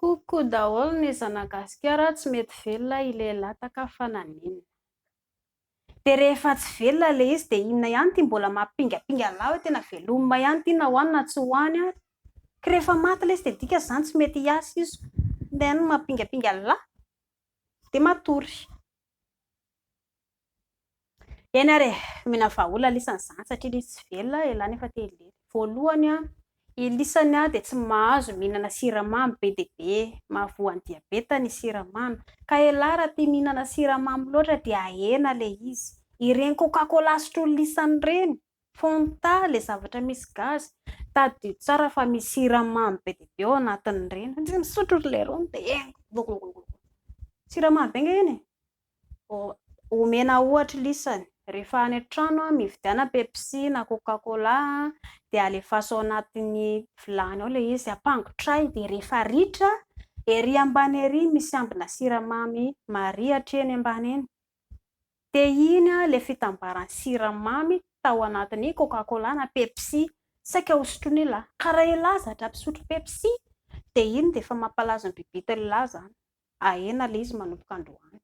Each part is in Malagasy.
Coucou daholo ny zanagasikara tsy mety velona i lehilahy taka fa naninona. Dia rehefa tsy velona ilay izy dia inona ihany ity mbola mampingapinga lahy hoe tena veloma ihany ity na ho any na tsy ho any ary. Ka rehefa maty ilay izy dia dika izany tsy mety hiasa izy. Inona ihany no mampingapinga lahy. Dia matory. Eny ary e! Omena vahaolana lisa ny zany satria lisa tsy velona elah nefa te hilery. Voalohany, i lisa dia tsy mahazo mihinana siramamy be dia be, mahavoa ny diabeta ny siramamy. Ka elah raha tia mihinana siramamy loatra dia ahena ilay izy. Ireny coca cola sotroin'i lisa ireny, fanta, ilay zavatra misy gaz, tadidio tsara fa misy siramamy be dia be ao anatin'ireny. Misotro ry leirony dia engo, gogogogogo. Siramamy be ange iny e! Omena ohatra lisany, rehefa any an-trano mividiana Pepsi na Coca Cola dia alefaso ao anatin'ny vilany ao ilay izy, ampangotrahy dia rehefa ritra, ery ambany ery misy ambina siramamy marihitra eny ambany eny, dia iny ilay fitambaran'ny siramamy tao anatin'ny Coca Cola na Pepsi saika ho sotroin'i la. Ka raha i la zatra mpisotro Pepsi dia iny dia efa mampalaza an'i Bibita an'i la izany. Ahena le izy manomboka androany.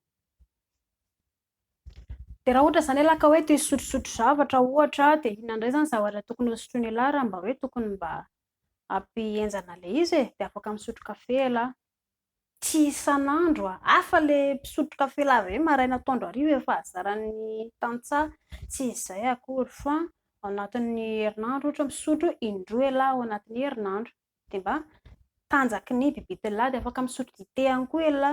Dia raha ohatra izany ialahy ka hoe te hisotrosotro zavatra ohatra dia inona indray izany zavatra tokony hosotroiny ialahy raha mba hoe tokony mba hampihenjana le izy e? Dia afaka misotro kafe ialahy. Tsy isan'andro a! Hafa le mpisotro kafe lahy be maraina atoandro hariva efa hazaran'ny tantsaha, tsy izay akory fa ao anatin'ny herinandro ohatra misotro indroa ialahy ao anatin'ny herinandro. dia mba tanjaky ny bibitelina dia afaka misotro dite ihany koa ianla,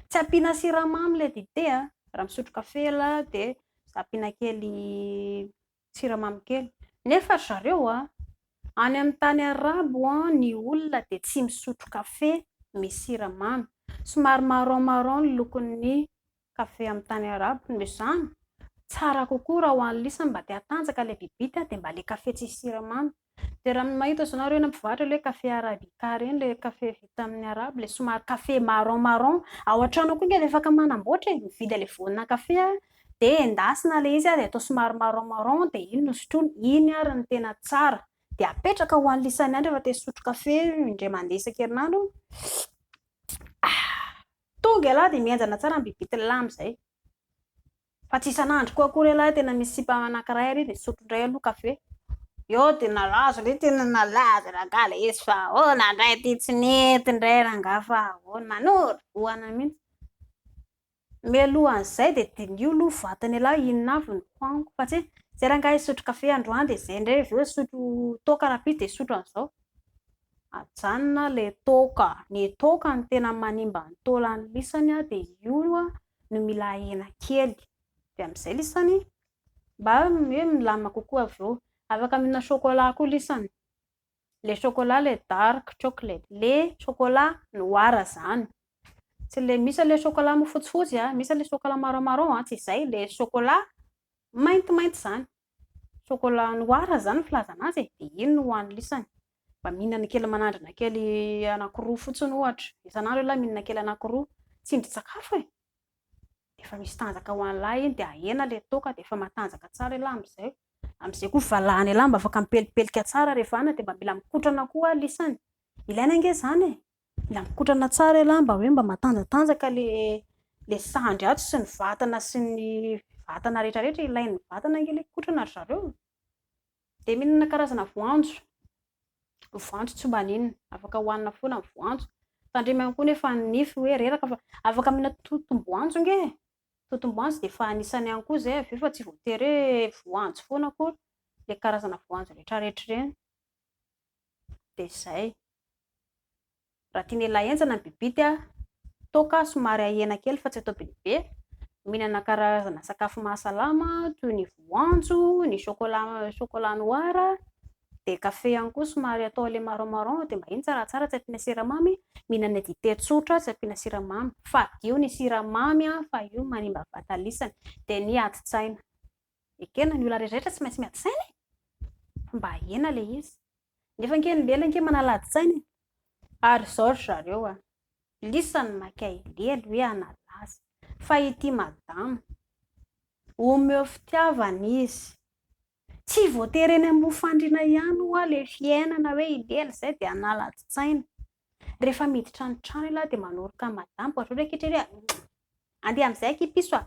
tsy ampiana siramamy ilay dite a, raha misotro kafe ianla dia ampiana kely siramamy kely, nefa ry zareo a, any amin'ny tany arabo ny olona dia tsy misotro kafe misy siramamy, somary marron marron ny lokon'ny Kafe amin'ny tany arabo no izany? Tsara kokoa raha ho an'i Lisa mba te hatanjaka ilay bibita dia mba ilay kafe tsisy siramamy. Dia raha ny mahita izao nareo eny amin'ny mpivarotra ilay hoe kafe arabica ireny, ilay kafe vita amin'ny arabo, ilay somary kafe marron marron. Ao an-trano ao koa ange dia afaka manamboatra e! Mividy an'ilay voanina kafe aho dia endasina ilay izy dia atao somary marron marron dia iny no sotroina. Iny ary no tena tsara. Dia apetraka ho an'i Lisa miandry rehefa te hisotro kafe indray mandeha isan-kerinandro. Tonga ialahy dia mihenjana tsara ny bibity ny lahy amin'izay. Fa tsy isan'andro koa akory ialahy tena misy sipa anankiray ary nisotro indray aloha kafe. Eo dia nalazo indray tena nalazo rangahy ilay izy fa ahoana indray ity tsy nety indray rangahy fa ahoana manoro vohana mihitsy. Mialohan'izay dia diniho aloha ny vatan'ialahy inona avy no ho aniko fa tsy hoe izay rangahy hisotro kafe androany dia izay indray avy eo hisotro toaka rahampitso dia hisotro an'izao. Ajanona le toaka, ny toaka no tena manimba ny taolan'ny lisany a, dia io a no mila ahena kely, dia amin'izay lisany mba hoe milamina kokoa avy eo, afaka mihinana chocolat koa lisany, le chocolat le dark chocolate, le chocolat noir zany, tsy le misy le chocolat fotsifotsy a, misy le chocolat marron marron a, tsy izay, le chocolat maintimainty zany. Chocolat noir izany no filazana azy e, dia iny no hoanisany, mba mihinana kely manandrana kely anankiroa fotsiny ohatra, isan'andro ialahy mihinana kely anankiroa, tsindrin-tsakafo e, dia efa misy tanjaka ho an'ilahy iny, dia ahena ilay toaka dia efa matanjaka tsara ialahy amin'izay, amin'izay koa valahana ialahy mba afaka mipelipelika tsara rehefa any, dia mba mila mikotrana koa ialahy isany, ilaina ange izany e! Mila mikotrana tsara ialahy mba hoe mba matanjatanjaka le le sandry ato sy ny vatana sy ny vatana rehetra rehetra ilain'ny vatana ange le kotrana ry zareo dia mihinana karazana voanjo ny voanjo tsy mba n'inona afaka hohanina foana ny voanjo tandremo ihany koa nefa ny nify hoe reraka fa afaka mihinana totom-boanjo ange totom-boanjo dia efa anisany ihany koa izay avy eo fa tsy voatery hoe voanjo foana akory le karazana voanjo rehetra rehetra ireny dia izay. Raha tian'ialahy henjana ny bibity, toaka somary ahena kely fa tsy atao be dia be. Mihinana karazana sakafo mahasalama toy ny voanjo, ny chocolat, chocolat noir, dia kafe ihany koa somary atao ilay marron marron dia mba iny tsaratsara tsy ampiana siramamy. Mihinana dite tsotra tsy ampiana siramamy. Fadio ny siramamy fa io manimba vatana isany. Dia ny ady-tsaina. Ekena ny olona rehetrarehetra tsy maintsy miady saina e. Fomba ahena le izy. Nefa ange ny lehilahy ange manalady saina e. Ary izao ry zareo a. Lisany maka ilely hoe analaza. Fa ity madama. Omeo fitiavana izy. Tsy voatery eny amin'ny fandriana ihany ho'a le fiainana hoe ilely izay dia analads tsaina. Rehefa miditra ny trano ialahy dia manoroka ny madama. Ohatra hoe ankehitriny hoe andeha amin'izay akia piso a.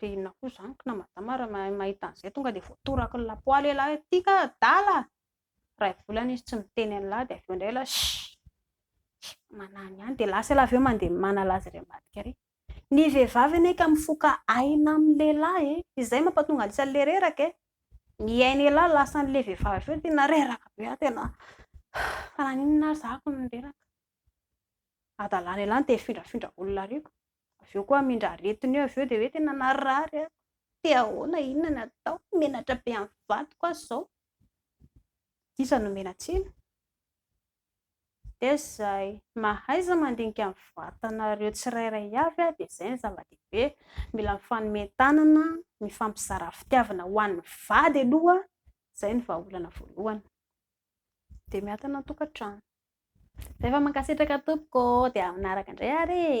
Dia inona koa izany kna madama raha mahita an'izay tonga dia voatoraky ny lapoaly ialahy hoe tia ka adala a! iray volana izy tsy miteny an'lah dia avy eo indray ialahy shhh, manahiny ihany, dia lasa ialahy avy eo mandeha manala azy irery ambadika ary, ny vehivavy anie ka mifoka aina amin'ny lehilahy e! izay mampatonga an'le isan'le reraka e! ny ain'ialahy lasan'le vehivavy avy eo tena reraka be aho tena fa naninona ary za hono no reraka, adalàn'ialahy no te hifindrafindra olona ary koa. avy eo koa hamindra aretiny eo, avy eo dia hoe tena narary aho, te ahoana, inona no atao, menatra be amin'ny vadiko aho izao, dia iza no omena tsiny? dia izay, mahaiza mandinika ny vatanareo tsirairay avy aho, dia izay no zava-dehibe, mila mifanomen-tanana, mifampizara fitiavana ho an'ny vady aloha, izay no vahaolana voalohany, dia miankina an-tokantrano. Efa mankasitraka tompoko ô, dia manaraka indray ary e.